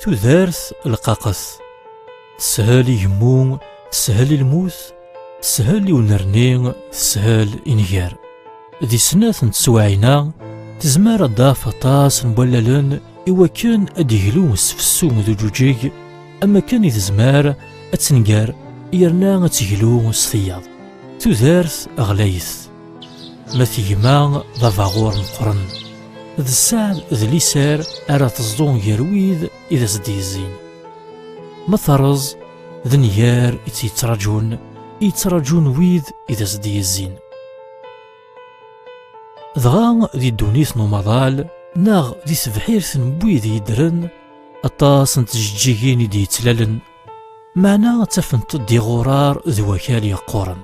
tudert lqaqet teshel i gemmu teshel i lmut teshel i unerni teshel i nnger di snat n teswaɛin-a tezmer ad d-af aṭas n wallalen i wakken ad d-iglu sfessu d uǧuǧeg am akken i tezmer ad tenger yerna ad teglu s tiyaḍ tudert ɣlayet Ma d gma d abaɣur meqqren, d sseɛd d liser ara teẓḍu gar wid i d as-d-yezzin. Ma terreẓ, d nnger i tt-yettraǧun, i yettraǧun wid i d as-d-yezzin. Dɣa di ddunit n umaḍal, neɣ di tebḥirt n wid yeddren, aṭas n tjeǧǧigin i d-yettlalen, Meɛna ttafent-d iɣurar d wakal yeqquren.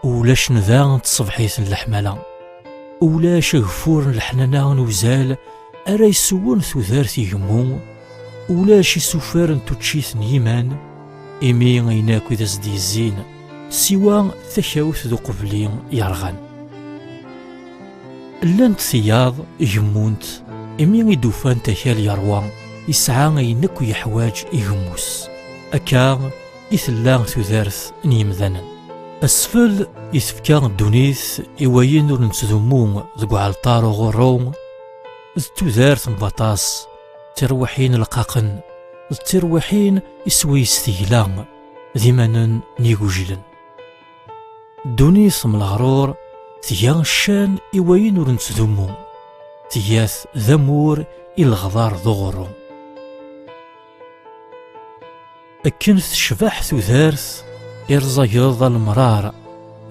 Ulac nda n tṣebḥit n leḥmala. Ulac ageffur n leḥnana n uzal ara yessewwen tudert igemmu. Ulac isufar n tuččit n yiman, imi ayen akk i d as-d-yezzin, siwa takawt d uqbel-i yerɣan. Llant tiyaḍ gemmunt imi i d-ufant akal yerwa yesɛa ayen akk yeḥwaj igemmus. Akka i tella tudert n yimdanen. Asfel i tefka ddunit i wayen ur nettdummu deg uɛalṭar uɣurru d tudert n waṭas tirwiḥin lqaqen d tirwiḥin iswi s tegla d imanen n yigujilen. Ddunit s mleɣrur tga ccan i wayen ur nettdummu, tga-t d amur i leɣbar d uɣurru. Akken tecbeḥ tudert, irẓageḍ alemrar,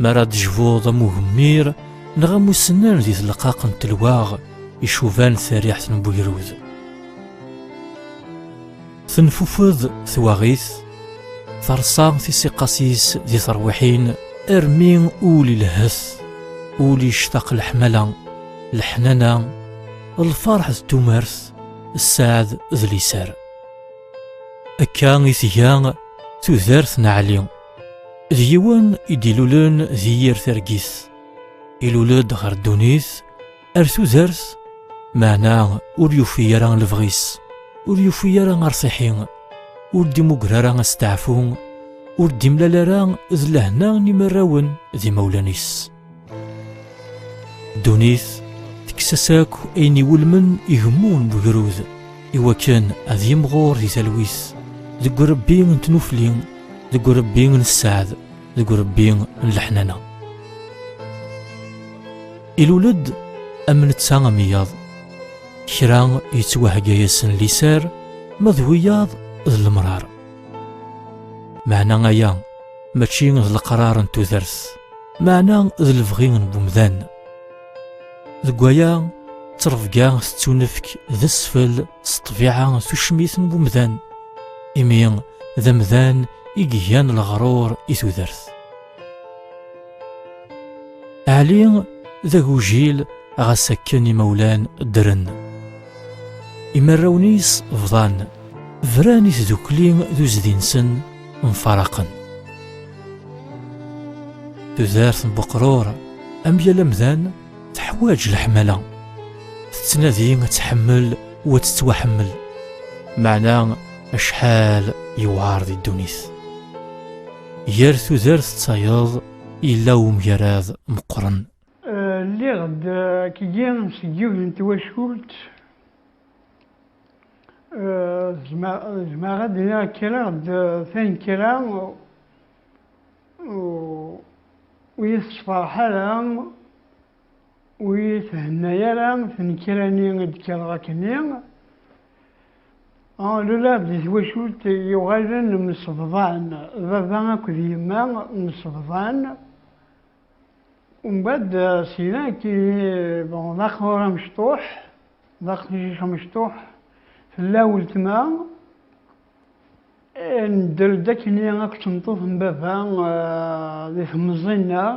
mi ara d-jbuḍ am ugemmir neɣ am usennan di tleqqaq n telwaɣ icuban tariḥt n wegrud. Tenfufed twaɣit, terṣa tisiqqas-is di terwiḥin, armi ul ilehhet, ul yectaq leḥmala, leḥnana, lferḥ d tumert, sseɛd d liser. Akka i tga tudert n Ɛli. D yiwen i d-ilulen di yir targit. Ilul-d ɣer ddunit ar tudert meɛna ur yufi ara lebɣi-s ur yufi ara arṣiḥi ur d-imuger ara asteɛfu ur d-imlal ara d lehna n imarrawen d imawlan-is ddunit tekkes-as akk ayen iwulmen igemmu n wegrud iwakken ad yimɣur di talwit deg urebbi n tnufli deg urebbi n sseɛd deg urebbi n leḥnana Ilul-d am netta am iyaḍ. Kra yettwahegga-yasen liser, ma d wiyaḍ d lemrar. Meɛna aya mačči d leqrar n tudert, meɛna d lebɣi n wemdan. Deg waya, ttrebga tettunefk d asfel s ṭṭbiɛa tucmit n wemdan, imi d amdan i igan leɣrur i tudert. Ɛli d agujil ɣas akken imawlan ddren. Imarrawen-is bḍan, bran i tdukli d uzdi-nsen mfaraqen. Tudert n Buqrur, am yal amdan, teḥwaǧ leḥmala. Tettnadi ad tḥemmel u ad tettwaḥemmel. Meɛna acḥal yewɛer di ddunit. Gar tudert d tayeḍ yella umgarad meqqren. Lliɣ-d akkgi seg yiwet n twacult, zemreɣ ad d-iniɣ kkreɣ-d tanekkra ur iyi-tessefṛeḥ ara. Ur iyi-thenna ara tnekra-nni i d-kkreɣ akkenni. Ah, lulaɣ di twacult yuɣalen msebḍan, baba akked yemma msebḍan. Umbad syin akkin bon d aqbur amecṭuḥ, d aqcic amecṭuḥ tella weltma. Eh, nedder-d akkenni akked tmeṭṭut n baba di temẓi-nneɣ.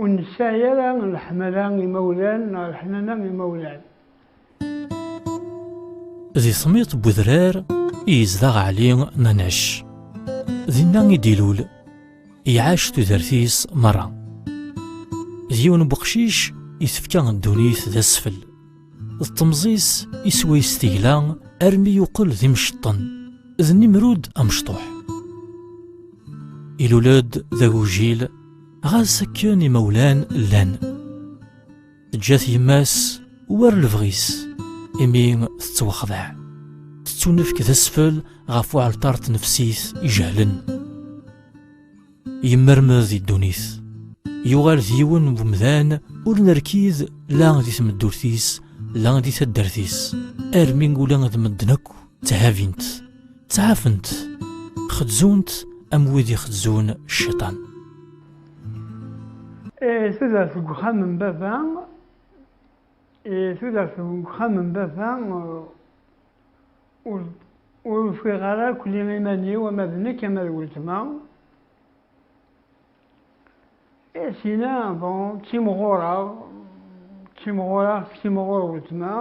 Ur nesɛi ara leḥmala imawlan neɣ leḥnana imawlan. Di tmiḍt n wedrar i yezdeɣ Ɛli Manac. Dinna i d-ilul, iɛac tudert-is merra. D yiwen n weqcic i tefka ddunit d asfel. D temẓi-s i swayes tegla armi yuqel d imceṭṭen, d Nimrud amecṭuḥ. Ilul-d d agujil. ɣas akken imawlan llan teǧǧa-t yemma-s war lebɣi-s imi tettwaxdeɛ tettunefk d asfel ɣef uɛalṭar tnefsit ijehlen yemmermed i ddunit yuɣal d yiwen n umdan ur nerkid la di tmeddurt-is la di taddart-is armi ula d medden akk tthabin-t ttɛafent xedzunt am wid i xedzun cciṭan eh, tudert deg uxxam n baba eh, tudert deg uxxam n baba eh, ur ufiɣ ara akli iman-iw ama d nekk ama d weltma I tina, bon, ttimɣureɣ, ttimɣureɣ, tettimɣur weltma,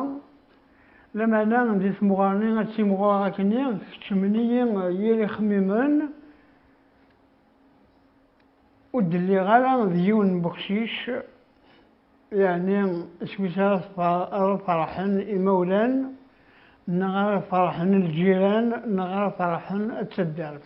lamana di temɣer-nni ad ttimɣureɣ akkenni, keččmen-iyi yir ixemmimen, ur d-lliɣ ara d yiwen n weqcic, yeɛni iswi-s ara ara ferḥen imawlan, neɣ ara ferḥen lǧiran, neɣ ara ferḥen taddart.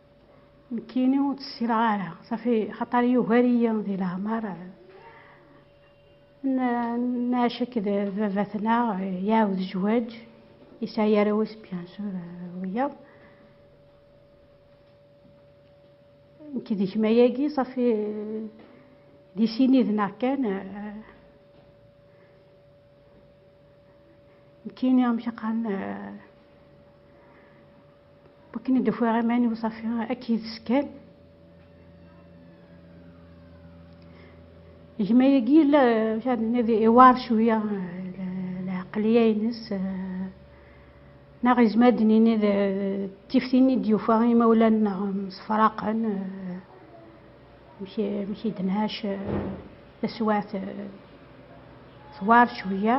Nekkini ur tt-ssineɣ ara, safi xaṭer yugar-iyi di leɛmer. Nɛac akked d baba-tneɣ, iɛawed zzwaǧ, yesɛa arraw-is bien sûr wiyaḍ. Nekk d gma-agi safi d isiniden-aɣ kan. Nekkini amek i qqaren? Wakken i d-ufiɣ iman-iw ṣafi akka yid-s kan. Gma-agi yella iwar cwiya lɛeqliya-ines neɣ yezmer ad d-nini d tiftin i d-yufa imawlan-nneɣ msefraqen, amek i d-nɛac taswiɛt twar cwiya.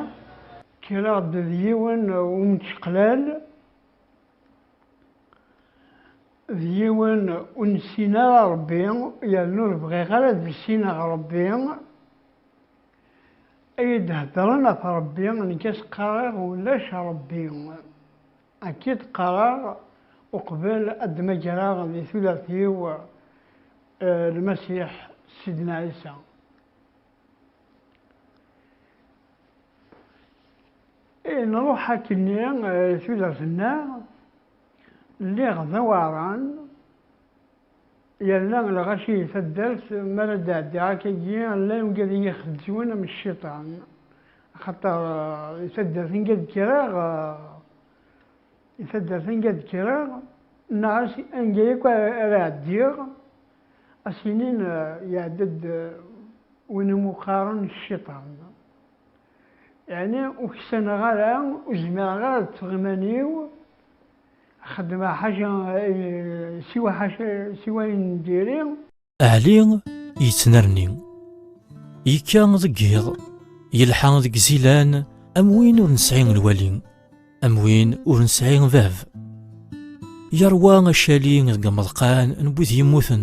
Kkreɣ-d d yiwen umečeqlal. d yiwen ur nessin ara Ṛebbi yernu ur bɣiɣ ara ad issineɣ Ṛebbi ay d-heddṛen ɣef Ṛebbi nekk ad s-qqareɣ ulac Ṛebbi akka i d-qqareɣ uqbel ad d-mmagreɣ di tudert-iw Lmasiḥ Sidna Ɛisa. Eh, nruḥ akkenni eh, tudert-nneɣ, lliɣ d aweɛran, yerna lɣaci taddart, mi ara d-ɛeddiɣ akkagi, llan ungad i yi-xeddwen am cciṭan, axaṭer eh, i taddart anga d-kkreɣ, i taddart anga d-kkreɣ, neɣ anga yakk ara ɛeddiɣ, as-inin iɛedda-d win i muqqaren cciṭan. Yeɛni ur ksaneɣ ara, ur zmireɣ ara ad ṭṭfeɣ iman-iw, ad xedmeɣ ḥaca, siwa ḥaca, siwa ayen n diri. Ɛli yettnerni, yekka deg yiḍ, yelḥa deg zilan am win ur nesɛi lwali, am win ur nesɛi bab. Yerwa acali deg imeḍqan n wid yemmuten.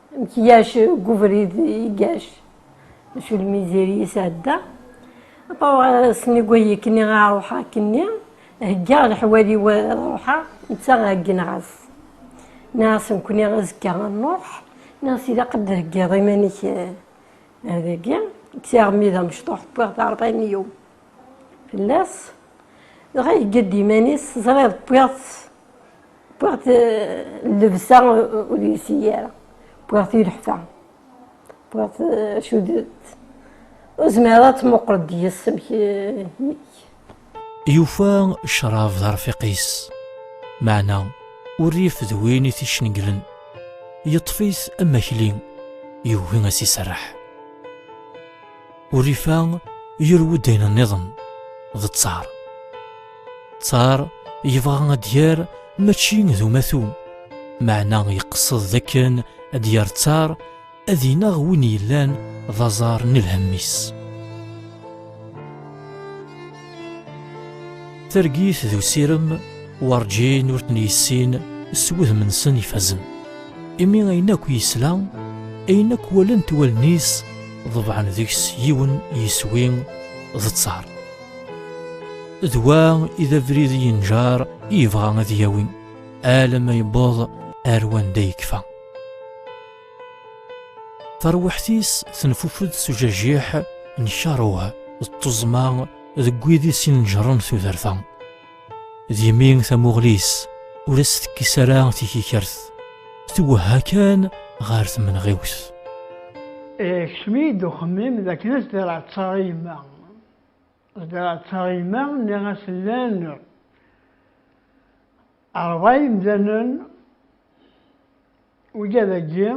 Amek yac deg ubrid igac, acu lmizir yesɛedda, aṭawaɣ-asen i wayekkni a ṛuḥeɣ akkenni, heggaɣ leḥwal-iw a ṛuḥeɣ, netta hegneɣ-as. Nniɣ-asen-kni azekka a nṛuḥ, nniɣ-as ilaq ad d-theggiḍ iman-ik ar dagi, kkes-aɣ-mi d amecṭuḥ wwiɣ-d aṛbayen-iw fell-as, dɣa yegga-d iman-is, teẓriḍ wwiɣ-t. Wwiɣ-t llebsa ur yelsi ara, wwiɣ-t ileḥfa, wwiɣ-t acu d ur zmireɣ ad tmuqel deg-s amek yek. Yufa ccrab d arfiq-is, meɛna urrif d win i t-icenglen, yeṭṭef-it am akli, yugi ad s-iserreḥ. Urifa yurew-d ayen nniḍen d ttar. Ttar yebɣa ad d-yer mačči d umatu, meɛna yeqsed d akken ad d-yer ttar ad ineɣ win yellan d aẓar n lhemm-is. Targit d usirem werǧin ur ten-yessin s wudem-nsen ifazen. Imi ayen akk yesla, ayen akk walent wallen-is, ḍebɛen deg-s yiwen yiswi d ttar. D wa i d abrid yenǧar i yebɣa ad yawi, alamma yewweḍ ar wanda yekfa. Tarwiḥt-is tenfufed s ujajiḥ n karuh d tuẓma deg wid i s-ineǧren tudert-a. D imi tamuɣli-s ur as-tekkis ara tikikert, twehha kan ɣer tmenɣiwt. Ikcem-iyi-d uxemmim d akken ad s-d-reɛtteɣ i yemma. Ad d-reɛtteɣ i yemma, nniɣ-as llan Rrḍa imdanen wigad-agi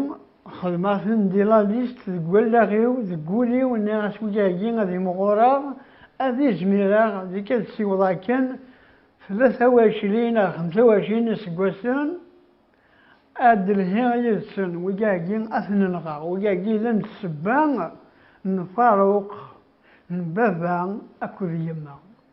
xedmeɣ-ten di la liste deg wallaɣ-iw, deg wul-iw nniɣ-as wigi-agi ad imɣureɣ, ad izmireɣ deg ad siwḍeɣ akken tlata wacrin ar xemsa wacrin n yiseggasen ad d-lhiɣ yid-sen, wigi-agi ad ten-nɣeɣ, wigi-agi llan d ssebba n Faruq, n baba akked yemma.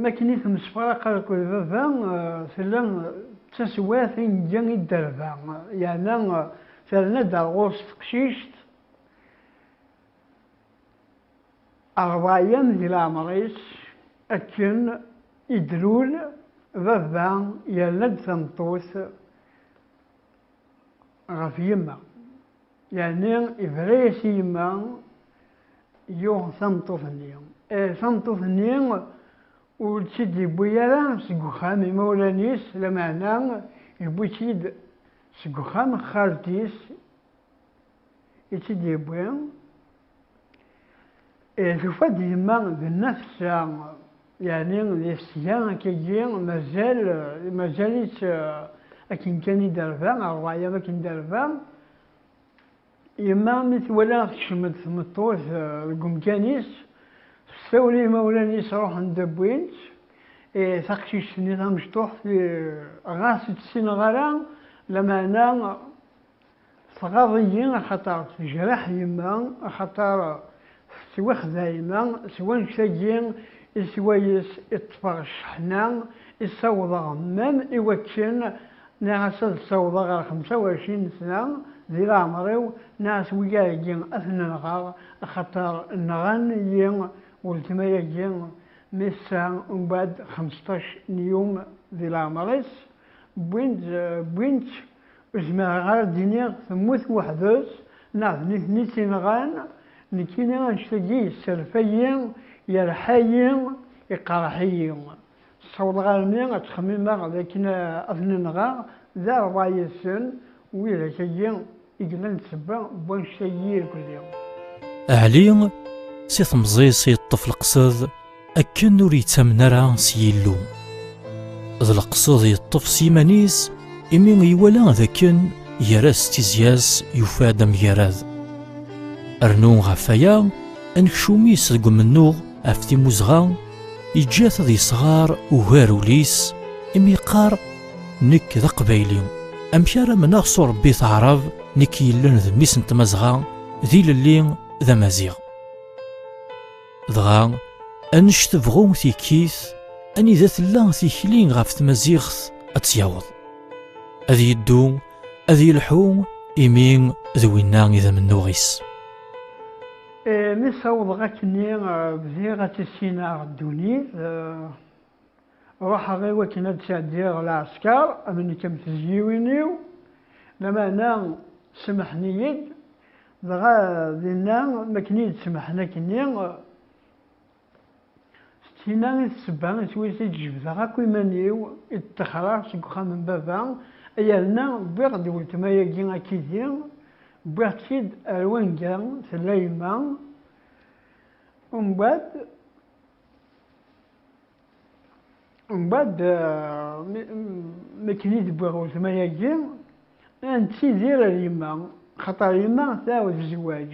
Mi akken i temsefraq akked baba, tella d taswiɛt i nga i dderba, yeɛna terna-d ar ɣur-s teqcict, rrḍay-am di leɛmer-is, akken i d-lul baba yerna-d tameṭṭut ɣef yemma, yeɛni ibra-yas i yemma. Yuɣ tameṭṭut-nni. Tameṭṭut-nni ur tt-id-yewwi ara seg uxxam imawlan-is, lameɛna yewwi-tt-id seg uxxam n xalti-s i tt-id-yewwi. Tufa-d yemma d nna tessa, yeɛni di tesga akkagi mazal mazal-itt akken kan i d-terba, rrwayeḍ akken d-terba. Yemma mi twala tekcem-d tmeṭṭut deg umkan-is, s tawla imawlan-is ruḥen-d wwin-tt. Taqcict-nni tamecṭuḥt ɣas ur tt-ssineɣ ara, lameɛna tɣaḍ-iyi axaṭer tejreḥ yemma, axaṭer. Tettwaxdayem-a s wanect-agi i swayes i ṭṭfeɣ cceḥna i ssawḍeɣ mam i wakken nniɣ-as ad ssawḍeɣ ɣer xemsa u ɛecrin sna di leɛmer-iw, nniɣ-as wiyaḍ-agi ad ten-nɣeɣ axaṭer nɣan-iyi weltma-agi mi tessa umbeɛd xemseṭṭac n yum di leɛmer-is, wwin-tt. Ur zmireɣ ara ad d-iniɣ temmut weḥd-s neɣ d nitni i tt-inɣan, nekkini annect-agi yesserfay-iyi, yerḥa-yi, iqerreḥ-iyi. Ssawḍeɣ armi ad ttxemmimeɣ dakken ad ten-nɣeɣ d rray-nsen, widak-agi i yellan d ssebba n wannect-agi irkelli. Ɛli, si temẓi-s yeṭṭef leqsed. akken ur yettamen ara s Yillu. D leqsed yeṭṭef s yiman-is imi iwala d akken gar-as d tizya-s yufa-d amgarad. Rnu ɣef waya, anekcum-is deg umennuɣ ɣef timmuzɣa yeǧǧa-t ad yesɣar ugar ul-is imi yeqqar nekk d aqbayli amek ara mneɣ s urebbi taɛrab nekk yellan d mmi-s n tmazɣa d ilelli d amaziɣ Dɣa, annect tebɣu tikit, anida tella tikli ɣef tmaziɣt ad tt-yaweḍ. Ad yeddu, ad yelḥu, imi d winna i d amennuɣ-is. Mi ssawḍeɣ akkenni, bdiɣ ad tissineɣ ddunit. Ruḥeɣ i wakken ad d-sɛeddiɣ lɛesker, am nekk am tezyiwin-iw, lameɛna semmḥen-iyi-d, dɣa dinna mi akken i yi-d-semmḥen akkenni, s tinna i d ssebba i twit i d-jebdeɣ akk iman-iw, i d-ṭṭexreɣ seg uxxam n baba, yerna wwiɣ-d weltma-agi akkidi, wwiɣ-tt-id ar wanga tella yemma, umbeɛd. Mbaɛd makken i d-wwiɣ weltma-agi, ad nettidir ar yemma, xaṭer yemma tɛawed zzwaǧ.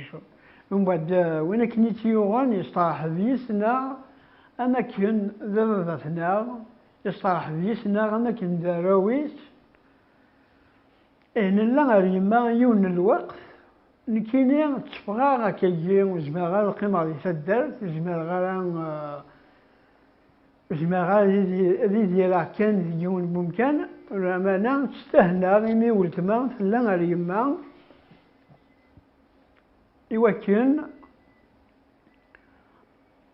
Mbaɛd win akken i tt-yuɣen yesteṛḥeb yis-neɣ am akken d ababat-neɣ, yesteṛḥeb yis-neɣ am akken d arraw-is. Eh, nella ar yemma yiwen n lweqt, nekkini tteffɣeɣ akkagi, ur zmireɣ ara ad qqimeɣ di taddart, ur zmireɣ ara eh, ur zmireɣ ara ad idireɣ kan deg yiwen n umkan, lameɛna ttdehneɣ imi weltma tella ar yemma, iwakken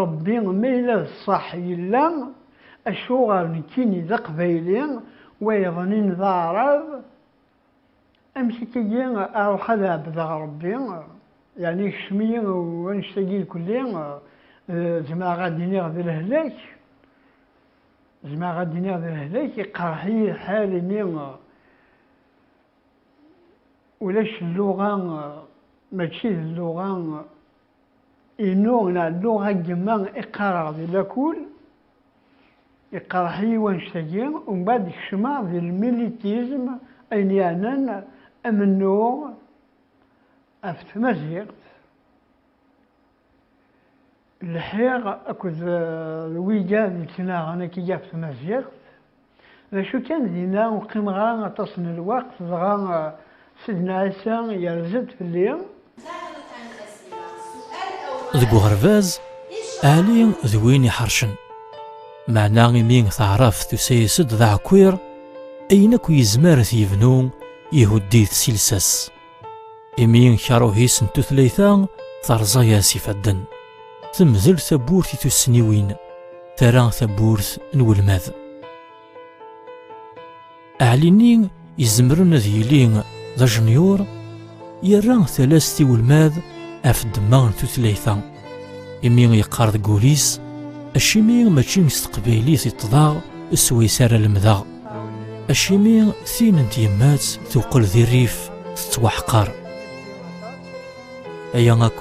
Ṛebbi ma yella d ṣṣeḥ yella, acuɣer nekkini d Aqbayli, wayeḍnin d Aɛṛab? Amek akka-yi aṛuḥ ad ɛebdeɣ Ṛebbi, yeɛni ikcem-iyi wanect-agi irkelli, zemreɣ ad d-iniɣ d lehlak? Zemreɣ ad d-iniɣ d lehlak, iqeṛṛeḥ-iyi lḥal imi ulac lluɣa, mačči d lluɣa. Inu lɛellu a yemma i qqareɣ di lakul, iqerreḥ-iyi wannect-agi, umbaɛd kecmeɣ di lmilitism, ayen yeɛnan amennuɣ ɣef tmaziɣt, lḥiɣ akked wiga d-yettnaɣen akeyyef tmaziɣt. D acu kan, dinna ur qqimeɣ ara aṭas n lweqt, dɣa Sidna Ɛisa yerza-d fell-i. Deg uɣerbaz, Ɛli d win iḥercen, meɛna imi taɛrabt tusa-as-d d aɛekkiṛ, ayen akk yezmer ad t-yebnu, ihuddi-t si lsas. Imi yenkaruhis n tutlayt-a terẓa-as ifadden. Temdel tawwurt i tussniwin, terra tawwurt n welmad. Aɛli-nni izemren ad yili d ajenyur, yerra talast i welmad ɣef ddemma n tutlayt-a. Imi yeqqar deg wul-is, acimi mačči s teqbaylit i ṭṭḍeɣ, s wayes ara lemdeɣ. Acimi tin n tyemmat tuqel di rrif tettwaḥqer. Aya akk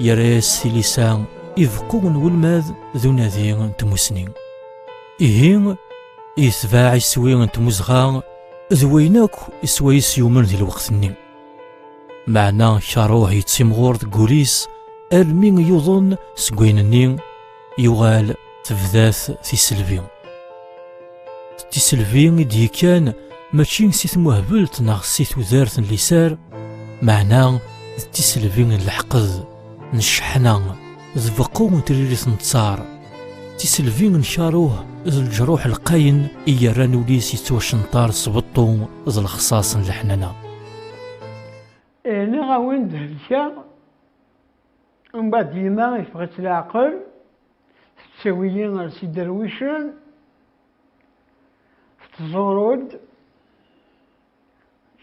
yerra-as tilisa i beqqu n welmad d unadi n tmusni. Ihi, yetbaɛ iswi n tmuzɣa d wayen akk iswayes yumen di lweqt-nni. Meɛna karuh yettimɣur deg wul-is almi yuḍen seg wayen-nni Yuɣal tebda-t tiselbi. Tiselbi i d-yekkan mačči si tmuhbelt neɣ si tudert n lisar, meɛna d tiselbi n leḥqed, n cceḥna, d beqqu n tririt n ttar, tiselbi n karuh d leǧruḥ lqayen i yerran ul-is yettwacenṭar s beṭṭu d lexṣaṣ n leḥnana. Nniɣ-awen-d helkeɣ. Umbad yemma ifeɣ-itt leɛqel, tettawi-yi ar si derwicen, tettẓuru-d,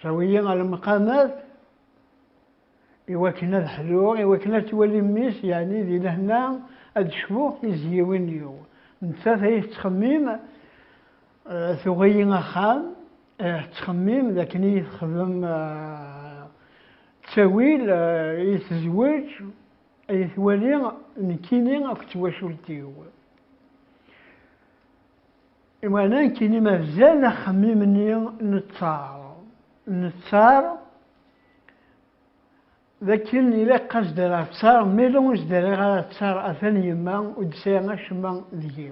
tawi-yi ar lmeqamat, iwakken ad ḥluɣ, iwakken ad twali mmi-s, yeɛni di lehna, ad cbuɣ tizyiwin-iw. Nettat ay tettxemmim. Eh, tuɣ-iyi axxam eh, tettxemmim d akken iyi texdem eh, ttawil iyi tezweǧ iyi twali nekkini akk ttwacult-iw imana nekkini mazal axemmim-nni nettar nettar d akken ilaq ad sdariɣ ttar mila ur sdariɣ ara ttar atan yemma ur d-sɛiɣ acemma deg-i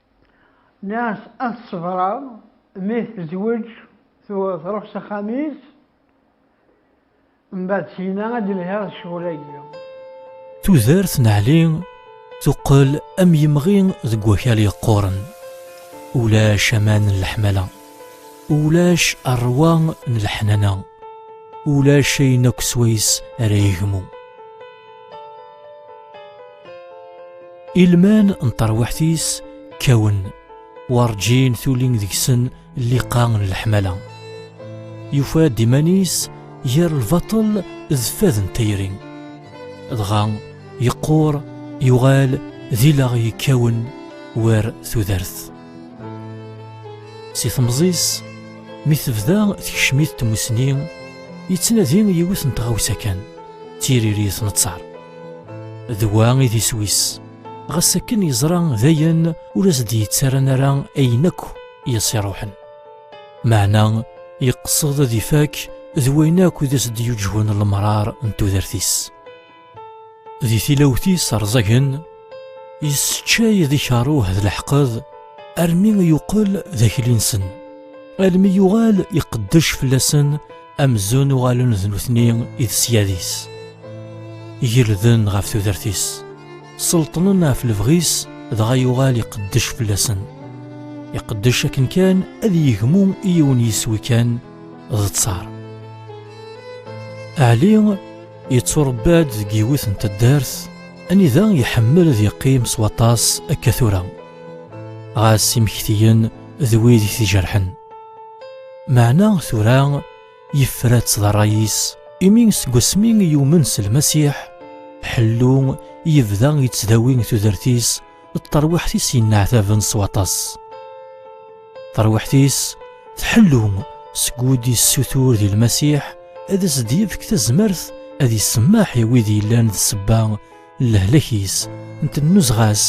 Nniɣ-as ad ṣebreɣ, mi tezweǧ truḥ s axxam-is, mbeɛd syin-a ad d-lhiɣ d ccɣel-agi. Tudert n Ɛli tuqqel am yemɣi deg wakal yeqquren, ulac aman n leḥmala, ulac rrwa n leḥnana, ulac ayen akk swayes ara yegmu. ilman n terwiḥt-is kkawen werǧin tulin deg-sen lliqa n leḥmala yufa-d iman-is gar lbaṭel d fad n tayri dɣa yeqqur yuɣal d ilaɣ yekkawen war tudert si temẓis mi tebda tekcem-it tmusni yettnadi yiwet n tɣawsa kan d tiririt n ttar d wa i d iswi-s ɣas akken yeẓra dayen ur as-d-yettaran ara ayen akk i as-iruḥen meɛna yeqsed ad ifak d wayen akk i d as-d-yuǧhun lemrar n tudert-is di tilawt-is rẓagen yesseččay d ikaruh d leḥqed armi yuqel d akli-nsen almi yuɣal iqeddec fell-asen Amzun uɣalen d nutni i d syad-is. Gelden ɣef tudert-is. Selṭnen ɣef lebɣi-s dɣa yuɣal iqeddec fell-asen. Iqeddec akken kan ad yegmu i yiwen yiswi kan d ttar. Ɛli yetturebba-d deg yiwet n taddart anida iḥemmel ad yeqqim s waṭas akka tura. Ɣas imektiyen d wid i t-ijerḥen. Meɛna tura yefra-tt d ṛṛay-is. Imi seg wasmi i yumen s Lmasiḥ, Ḥellu yebda yettdawi tudert-is d terwiḥt-is yenneɛtaben s waṭas. Tarwiḥt-is tḥellu seg wid yessutur di Lmasiḥ ad as-d-yefk tazmert ad isemmeḥ i wid yellan d ssebba lehlak-is n tennuzɣa-s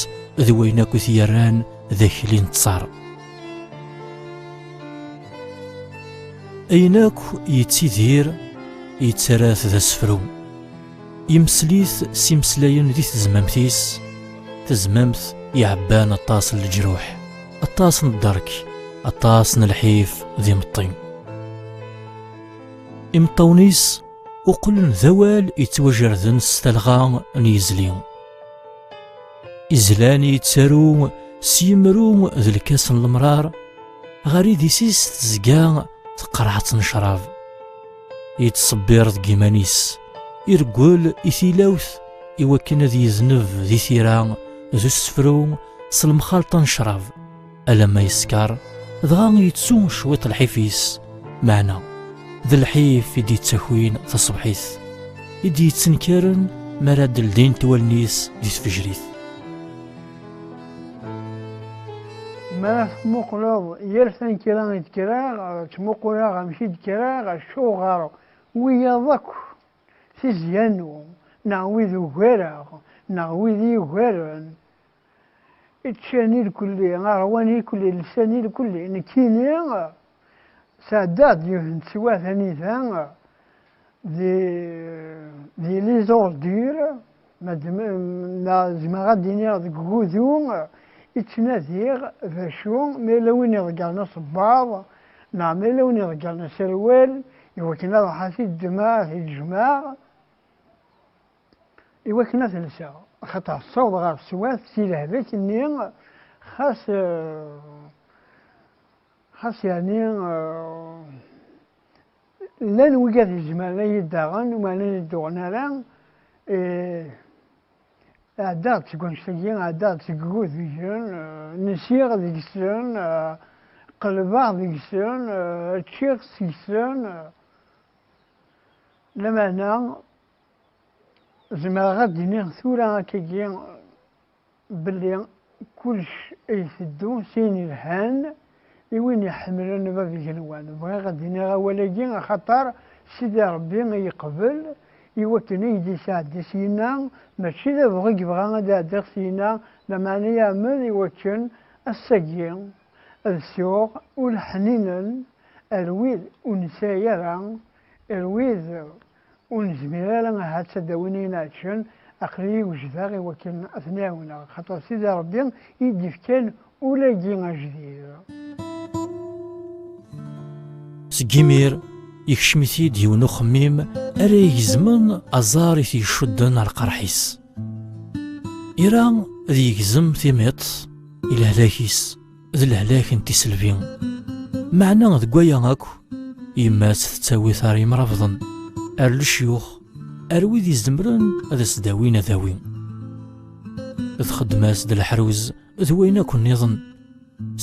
d wayen akk i t-yerran d akli n ttar ayen akk yettidir yettarra-t d asefru yemsel-it s imeslayen di tezmamt-is tezmamt iɛebban aṭas n leǧruḥ aṭas n dderk aṭas n lḥif d imeṭṭi imeṭṭawen-is uqlen d awal yettwajerden s talɣa n yizli izlan yettaru s yimru d lkas n lemrar ɣer idis-is tezga teqreḥ-tt n ccrab yettṣebbir deg iman-is ireggel i tilawt iwakken ad yezneb di tira d usefru s lemxalṭa n ccrab alamma yeskeṛ dɣa yettu cwiṭ lḥif-is meɛna d lḥif i d-yettakwin taṣebḥit i d-yettenkaren mi ara d-ldint wallen-is di tfejrit ma tmuqleḍ yal tanekkra i d-kreɣ ttmuquleɣ amek i d-kreɣ acuɣer wiyaḍ akk tizya-nu neɣ wid ugareɣ neɣ wid yugaren Ččan irkelli, ṛwan irkelli, lsan irkelli. Nekkini, sɛeddaɣ-d yiwet n teswiɛt anida di di les ordures, ma zemreɣ ad d-iniɣ deg ugudu, i ttnadiɣ d acu ma yella win iḍeggren asebbaḍ neɣ ma yella win iḍeggren aserwal iwakken ad ṛuḥeɣ ad t-id-ddmeɣ, ad t-id-jjmeɣ. i wakken ad lseɣ axaṭer tessaweḍ ɣer teswat si lehbek-nni xas xas yani llan wigad izemren ad yi-daɣen umaren ad yi-duɣen ara ɛeddaɣ-d seg wanect-agi ɛeddaɣ-d seg igudbijen nsiɣ deg-sen qelbeɣ deg-sen ččiɣ seg-sen lameɛna Zemreɣ ad d-iniɣ tura akkagi belli kullec a iteddu s ayen yelhan i win iḥemmlen bab igenwan. Bɣiɣ ad d-iniɣ awal-agi axaṭer Sidi Ṛebbi a yeqbel i wakken a yi-d-yesɛeddi syenna, mačči d abɣu i yebɣa ad ɛeddiɣ syenna, lameɛna yeɛmed i wakken ass-agi ad sɛuɣ ul ḥninen ar wid ur nesɛi ara, ar wid Ur nezmir ara ahat ad d-awin ayen ɛeǧǧen, aql-iyi wejdeɣ i wakken ad ten-ɛiwneɣ, axaṭer Sidi Ṛebbi i yi-d-ifkan ul-agi ajdid. Seg yimir, yekcem-it-id yiwen uxemmim ara igezmen aẓar i t-icudden ar lqerḥ-is. Ira ad yegzem timiṭ i lehlak-is. d lehlak n tiselbi meɛna deg waya akk yemma-s tettawi tar imrabḍen ar lecyux ar wid izemren ad as-dawin adawi txeddem-as d leḥruz d wayen akk nniḍen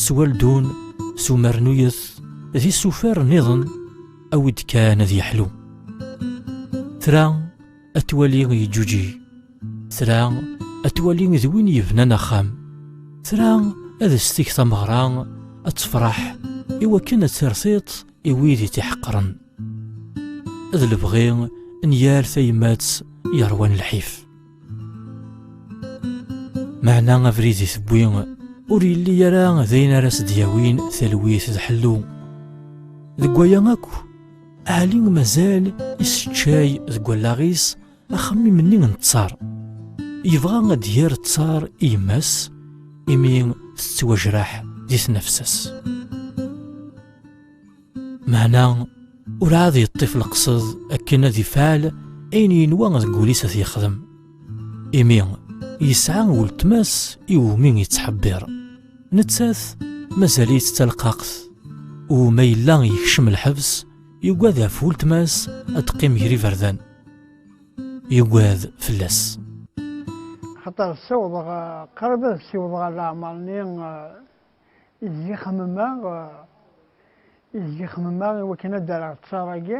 s waldun s umernuyet d isufar nniḍen awi-d kan ad yeḥlu tra ad twali yeǧǧuǧig tra ad twali d win yebnan axxam tra ad s-teg tameɣra ad tefreḥ i wakken ad tertiṭ i wid i t-iḥeqren ad lebɣi n yal tayemmat yerwan lḥif meɛna abrid i tewwi ur yelli ara d ayen ara s-d-yawin talwit d ḥellu deg waya akk Ɛli mazal iseččay deg wallaɣ-is axemmim-nni n ttar. Yebɣa ad d-yer ttar i yemma-s imi tettwajraḥ di tnafsa-s. Meɛna ur ɛad yeṭṭif leqsed akken ad ifɛel ayen yenwa deg wul-is ad t-yexdem. Imi yesɛa weltma-s iwumi yettḥebbiṛ. Nettat mazal-itt d talqaqt. Uma yella yekcem lḥebs, yugad ɣef weltma-s ad teqqim ger iberdan. Yugad fell-as. Axaṭer ssiwḍeɣ, qrib ad ssiwḍeɣ ɣer leɛmeṛ-nni i zgi-xemmemeɣ, i zgi-xemmemeɣ i wakken ad d-rreɣ ttaṛ-agi.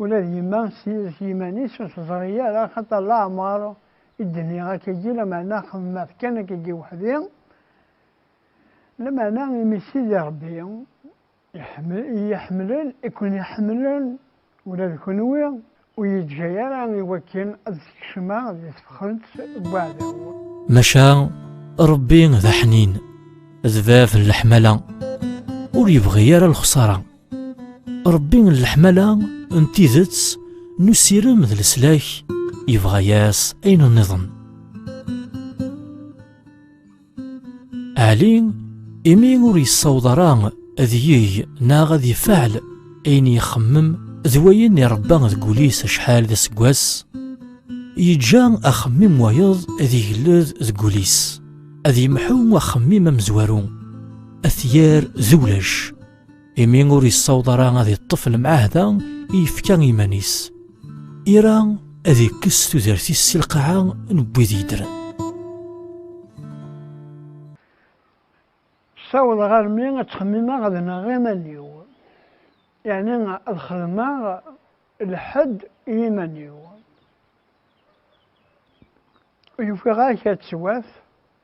Ula d yemma s yid-s yiman-is ur teẓri ara axaṭer laɛmeṛ i d-nniɣ akkagi lameɛna xedmeɣ-t kan akkagi weḥdi, lameɛna imi Sidi Ṛebbi i yi-iḥemmlen i ken-iḥemmlen ula d kenwi, ur yi-d-ǧǧa ara i wakken ad skecmeɣ di tefxent n weɛdaw. Maca Ṛebbi d aḥnin, d bab n leḥmala, ur yebɣi ara lexṣara. Ṛebbi n leḥmala n tidet n usirem d leslak yebɣa-yas ayen nniḍen. Ɛli imi ur yessaweḍ ara ad yeg neɣ ad ifaɛel ayen yexemmem d wayen irebba deg wul-is acḥal d aseggas yeǧǧa axemmim wayeḍ ad igled deg wul-is ad yemḥu axemmim amezwaru ad t-yerr d ulac imi ur yessaweḍ ara ad yeṭṭef lemɛahda i yefka iman-is ira ad ikkes tudert-is si lqaɛa n wid yeddren ssawḍeɣ armi ad ttxemmimeɣ ad nɣeɣ iman-iw yeɛni ad xedmeɣ lḥedd i yiman-iw ufiɣ-ak ad twat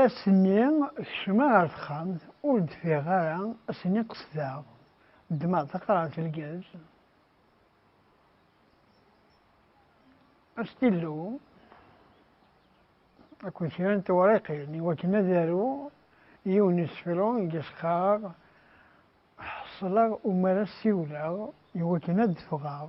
Ass-nni kecmeɣ ɣer texxamt, ur d-ffiɣeɣ ara, ass-nni qesdeɣ, ddmeɣ taqrart n lgaz, astillu akked kra n tewriqin i wakken ad aruɣ yiwen n usefru i as-qqareɣ Ḥeṣleɣ umar as-siwleɣ i wakken ad d-ffɣeɣ.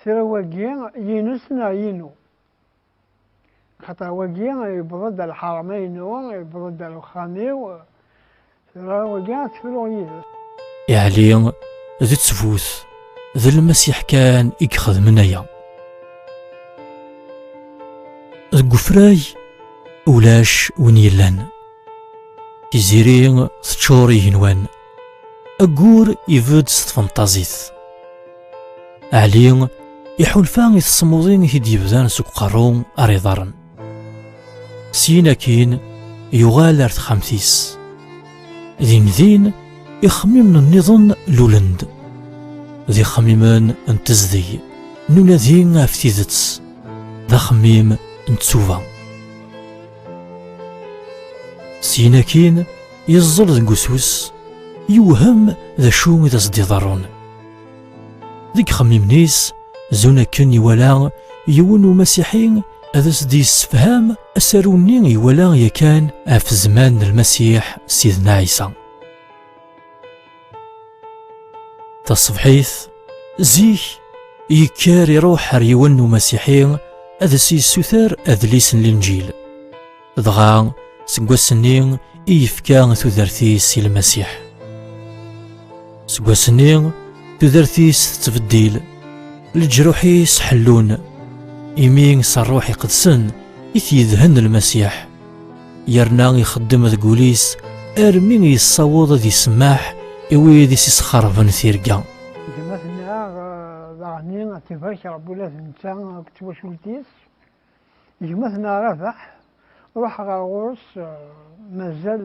Tira wagi yinus neɣ yinu? Xaṭer wagi yewweḍ-d ar lḥaṛma-inu, yewweḍ-d ar uxxam-iw, tira wagi ad tt-fruɣ yid-s. Yeɛli d ttbut, d Lmasiḥ kan i ixedmen aya. Deg wefrag ulac win yellan. Tiziri teččur igenwan. Ayyur ibedd s tfenṭazit. Ɛli iḥulfa i tesmuḍin i t-id-yebdan seg uqerru ar iḍarren. Syin akin yuɣal ar texxamt-is. Din din ixemmimen nniḍen lulen-d. D ixemmimen n tezdeg, n unadi ɣef tidet, d axemmim n tsuba. Syin akin, yeẓẓel deg usus, yewhem d acu i d as-d-iḍerrun. Deg xemmimen-is, zun akken iwala yiwen umasiḥi ad as-d-yessefham asaru-nni iwala yakan ɣef zzman n Lmasiḥ Sidna Ɛisa. Taṣebḥit, zik, yekker iruḥ ar yiwen n umasiḥi ad s-yessuter adlis n linǧil. Dɣa, seg wass-nni i yefka tudert-is i lmasiḥ. Seg wass-nni, tudert-is tettbeddil, leǧruḥ-is ḥellun, imi s rruḥ iqedsen i t-yedhen lmasiḥ. yerna ixeddem deg wul-is armi yessaweḍ ad isemmaḥ i wid i s-isxerben tirga. Gma tenna daɣni ad tibak Rebbi ula d netta akked twacult-is. Gma tenna Rabaḥ, ruḥ ɣer ɣur-s mazal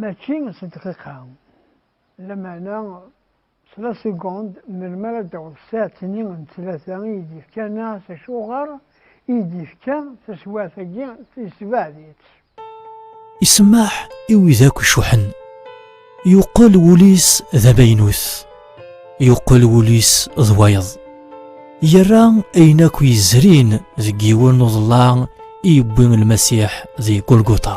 Mačči s dqiqa, lameɛna s la segond, melmi ara d-taweḍ tsaɛet-nni n ttlata i yi-d-yefka neɣ s acuɣer i yi-d-yefka taswiɛt-agi, yessebɛed-itt. Isemmeḥ i wid akk icuḥḥen. Yuqqel wul-is d amaynut. Yuqqel wul-is d wayeḍ. Yerra ayen akk yezrin deg yiwen n uḍellaɛ i yewwi Lmasiḥ di Gulguṭa.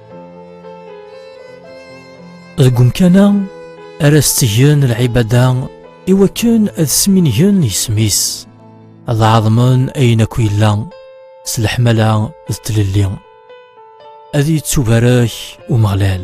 deg umkan-a ara s-ttgen lɛibada i wakken ad smingen isem-is ad ɛeḍmen ayen akk yella s leḥmala d tlelli ad yettubarek umeɣlal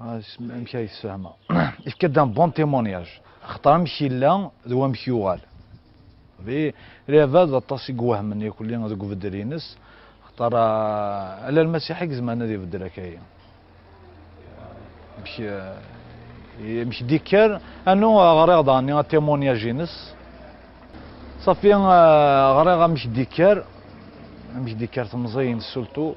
amek ay tessehmeɣ ifka-d un bon témoignage xaṭer amek yella d wamek yuɣal di Rava d aṭas i iwehmen yakulli deg ubeddel-nnes xaṭer ah, ala lmasiḥ i izemren ad ibeddel akaya amek eh, amek d-ikker anu ah, ɣriɣ daɣen atémoignage-nnes safi ah, ɣriɣ amek d-ikker amek d-ikker temẓi-nnes surtout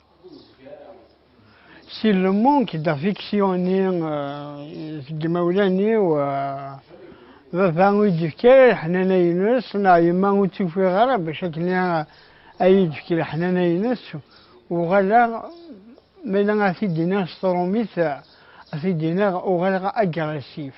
Si lmunk d afiksiyoni seg yimawlan-iw, baba ur yi-d-yefki ara leḥnana-ines, neɣ yemma ur tt-ufiɣ ara bac akken a yi-d-tefk leḥnana-ines, uɣaleɣ, ma yella ad t-id-iniɣ s trumit, ad t-id-iniɣ uɣaleɣ agressif.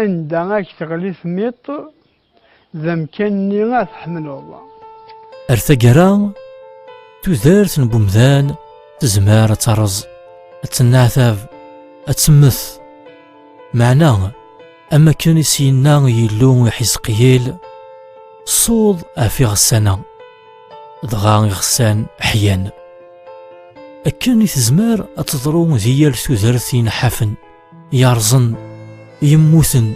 Anda ak teɣli tmiṭ d amkan-nni ad tḥemmleḍ. Ar taggara, tudert n umdan tezmer ad terreẓ, ad tenneɛtab, ad temmet. Meɛna, am akken i s-yenna Yillu i Ḥizqiyil, ṣṣuḍ ɣef iɣessan-a, dɣa iɣessan ḥyan. Akken i tezmer ad teḍru di yal tudert inḥafen. yerẓen yemmuten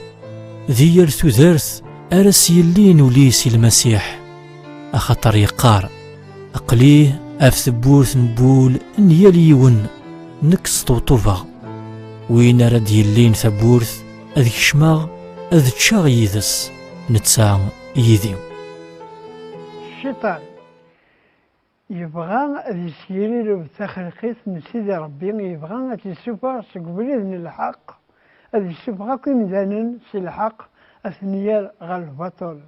di yal tudert ara s-yellin ul-is i lmasiḥ axaṭer yeqqar aqli af tewwurt n wul n yal yiwen nekk sṭewṭubeɣ win ara d-yellin tawwurt ad kecmeɣ ad ččeɣ yid-s netta yid-i cciṭan Yebɣa ad yesgirrireb taxelqit n Sidi Rebbi, yebɣa ad t-yessufeɣ seg ubrid n lḥeqq, ad yessufeɣ akk imdanen si lḥeqq, ad ten-yerr ɣer lbaṭel.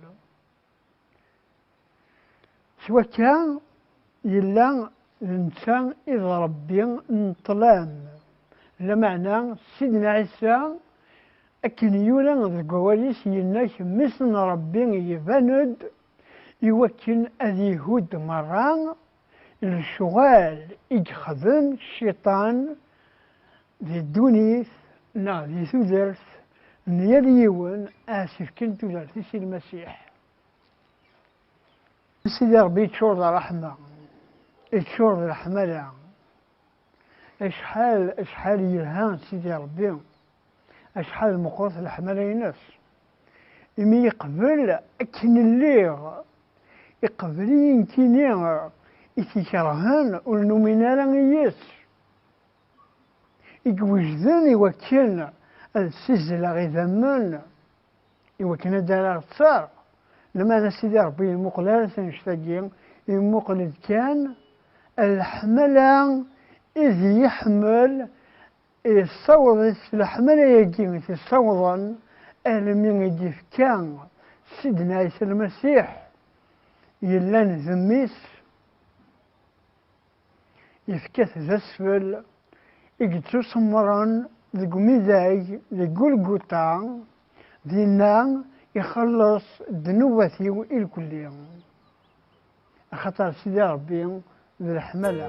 S wakka, yella d netta i d Rebbi n ṭṭlam, lameɛna Sidna Ɛisa, akken yura deg wawal-is, yenna, Mmi-s n Rebbi iban-d iwakken ad ihudd merra lecɣal i yexdem cciṭan di ddunit neɣ di tudert n yal yiwen asefken tudert-is i Lmasiḥ. Sidi Ṛebbi iččur d ṛṛeḥma, iččur d leḥmala. Acḥal, acḥal yelha Sidi Ṛebbi, acḥal meqqret leḥmala-ines. Imi yeqbel akken lliɣ, iqbel-iyi nekkini i t-ikerhen ur numin ara i yes, i iwejden i wakken ad ssizzleɣ idammen, i wakken ad ara ɣ-ttar lemana sidi rebbi yemmuqel ara tanect-agi yemmuqel-d kan leḥmala id yeḥmel yessaweḍ-it leḥmala-agi i t-yessawḍen almi i d-ifka sidna ɛisa lmasiḥ yellan d mmi-s Yefka-t d asfel i yettusemren deg umidag di Gulguta, dinna ixelleṣ ddnubat-iw irkelli, axaṭer Sidi Ṛebbi d leḥmala.